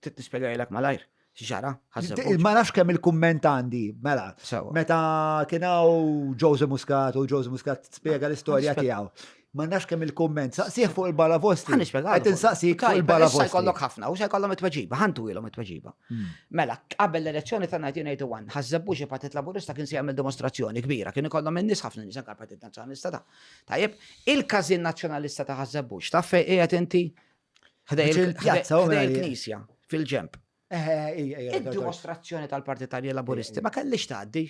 Trid nispjegajlek malajr x'ġara ħażebuġ. Ma nafx kemm il-kumment għandi, mela. Meta kien hawn Jose Muscat u Jose Muscat spjega l-istorja tiegħu. Ma nafx kemm il-kumment, saqsih fuq il-balavosti. Qed insaqsik fuq il-balavosti. Se jkollok ħafna u se jkollhom it-tweġiba, ħantu ilhom it-tweġiba. Hmm. Mela, qabel l-elezzjoni ta' 1981, ħażebbux il-Partit Laburista kien se jagħmel dimostrazzjoni kbira, kien ikollhom in-nies ħafna nies anke l-Partit Nazzjonalista ta' tajjeb, il-każin Nazzjonalista ta' ħażebbux, taf fejn qiegħed inti Ħdej il-knisja, fil-ġemp. Id-dimostrazzjoni tal-Partit Tarji Laburisti ma kellix tgħaddi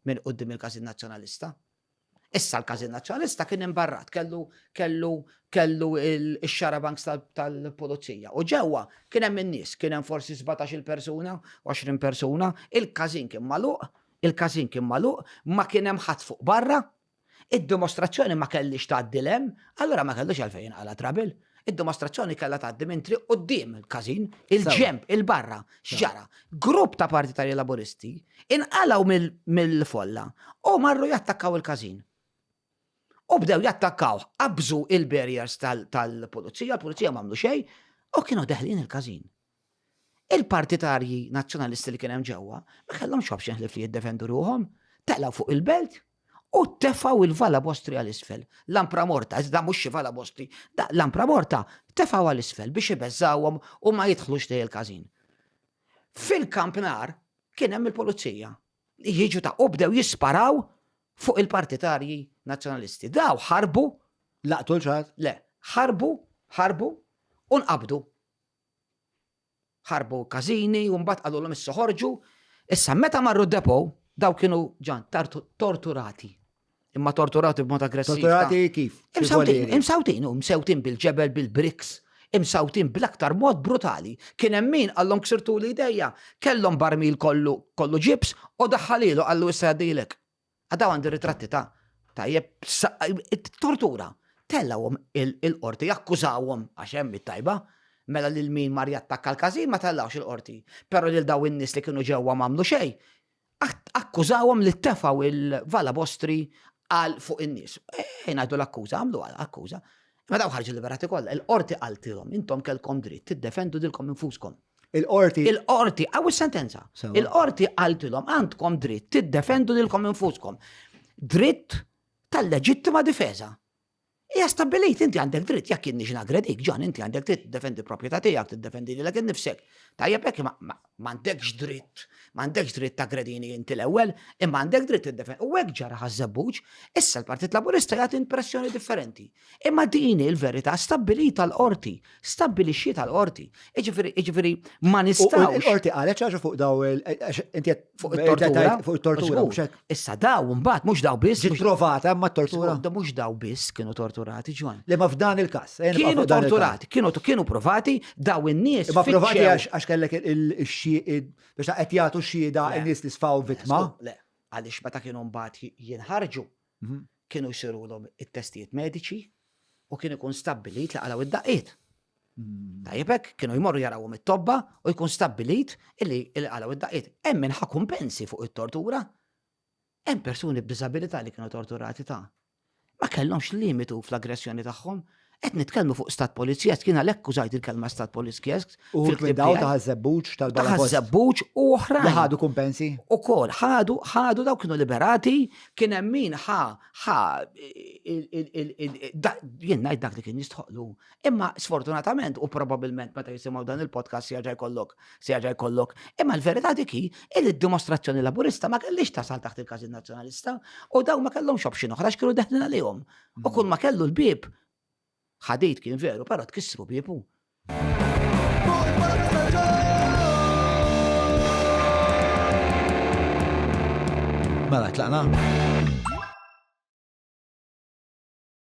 minn qudiem il-Każin Nazzjonalista. Issa l-Każin Nazzjonalista kien imbarrat, kellu kellu kellu il-xarabanks tal-pulizija. U ġewwa kien hemm in-nies, kien hemm forsi 17 il-persuna, 20 persuna, il-Każin kien magħluq, il-Każin kien magħluq, ma kien hemm ħadd fuq barra, Id-dimostrazzjoni ma kellhiex tgħaddi 'l hemm, allura ma kellux għalfejn jinqala' trabil. Id-dimostrazzjoni kellha tgħaddi minn triq quddiem il-każin, il-ġenb, il-barra. X'ġara? Grupp ta' partitarji Laburisti inqalgħu mill-folla u marru jattakkaw il-każin. U bdew jattakkawh, qabżu l-barriers tal-pulizija, il-pulizija m'għamlu xejn u kienu deħlin il-każin. Il-partitarji nazzjonalisti li kien hemm ġewwa ma kellhomx option ħlief li jiddefendu ruħhom, telgħu fuq il-belt u tefgħu il-Vala Bostri għal isfel. Lampra Morta, iżda mhux xi Vala Bostri, da Lampra Morta tefgħu għal isfel biex ibeżżawhom u ma jidħlux lejn il-każin. Fil-kampnar kien hemm il-pulizija. Jiġu ta' u bdew jisparaw fuq il-partitarji nazzjonalisti. Daw ħarbu, laqtu l-ċat, le, ħarbu, ħarbu, u nqabdu. ħarbu każini u mbagħad qalulhom issa ħorġu. Issa meta marru d-depo daw kienu ġan torturati. Imma torturati b'mod aggressiv. Torturati kif? Imsawtin, imsawtin, imsawtin bil-ġebel, bil-briks, imsawtin bl-aktar mod brutali. Kien hemm min għallhom ksirtu l-idejja, kellhom barmil kollu kollu ġibs u daħħalilu għallu issa għaddilek. Għadaw għandi ritratti ta' tajjeb, tortura. Tellawhom il-qorti, jakkużawhom għax hemm it-tajba, mela lil min mar jattakka l-każin ma tellawx il-qorti. Però lil daw in-nies li kienu ġewwa m'għamlu xejn, akkużawhom li tefgħu l-vala bostri għal fuq in-nies. Ejn ngħidu l-akkuża, għamlu akkuża. Meta daw ħarġu liberati kollha, il-qorti qaltilhom intom kelkom dritt tiddefendu dilkom infuskom. Il-qorti. Il-qorti, għaw sentenza Il-qorti għaltilom għandkom dritt tiddefendu lilkom infuskom. Dritt tal-leġittima difesa. Ija stabilit, inti għandek dritt, jekk inni ġina gredik, ġan, inti għandek dritt tiddefendi proprjetà tiegħek, tiddefendi li l-għin nifsek. Tajjeb hekk M'għandekx dritt, m'għandekx dritt taggredini inti l-ewwel, imma għandek dritt tiddefendi. U hekk ġara ħaż-Żebbuġ, issa l-Partit Laburista jagħti impressjoni differenti. Imma din hi l-verità stabbilita l-qorti, stabbilixxietha l-qorti. Jiġifieri, jiġifieri ma U nistgħux. l-qorti qalet xi ħaġa fuq daw il- għax inti qed- Fuq it-tortura. Fuq it-tortura, Żgur. mhux hekk? Issa daw, mbagħad mhux daw biss. Ġiet provata ma tortura. Da mhux daw biss kienu torturati ġon. Li ma f'dan il-każ. Eh, kienu torturati, kienu kienu provati daw in-nies. Ma provati għax kellek il-xieq biex qed jagħtu xhieda in-nies li sfaw vittma. Le, għaliex meta kienu mbagħad jinħarġu mhm. kienu jsirulhom it-testijiet mediċi u kien ikun stabbilit li għalaw id-daqqiet. Tajjeb hekk, kienu jmorru jarawhom it-tobba u jkun stabbilit illi il-qalaw id-daqqiet. Hemm min ħa kumpensi fuq it-tortura. Hemm persuni b'diżabilità li kienu torturati ta' ma kellhomx limitu fl-aggressjoni tagħhom. Qed nitkellmu fuq stat polizjesk, kien għalhekk użajt il-kelma stat polizjesk. U fil-kbdaw ta' żebbuġ tal-bala. Ta' żebbuġ u oħra. Li ħadu kumpensi. U kol, ħadu, ħadu daw kienu liberati, kien hemm min ħa, ħa, jien ngħid dak li kien jistħoqlu. Imma sfortunatament u probabilment meta jisimgħu dan il-podcast se jerġa' jkollok, se jerġa' jkollok. Imma l-verità dik hi li d-dimostrazzjoni Laburista ma kellix tasal taħt il-każin Nazzjonalista u dawn ma kellhomx option oħra x'kienu deħlin għalihom. U kull ma kellu l-bieb ħadid kien veru, però tkissru biebu. Mela tlaqna.